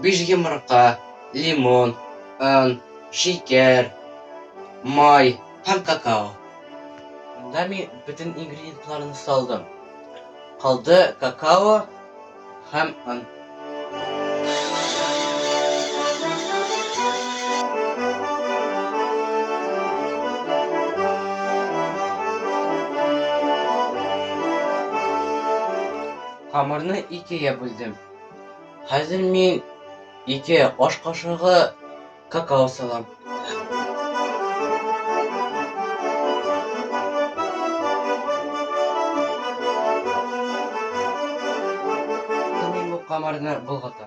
Биш йомырка, лимон, он, шикәр, май һәм какао. Монда мин бөтен ингредиентларны салдым. Калды какао һәм он. Камырны икегә бүлдем. Хәзер мин ике аш кашыгы какао салам. Мин бу камырны болгатам.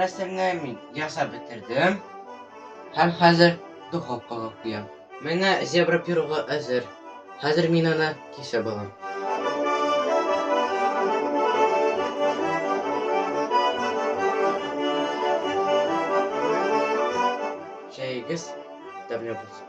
Рәсемне мин ясап бетердем. Һәм хәзер духовкага куям. Менә зебра пирогы әзер. Хәзер мин аны кисеп алам. Чәегез тәмле булсын.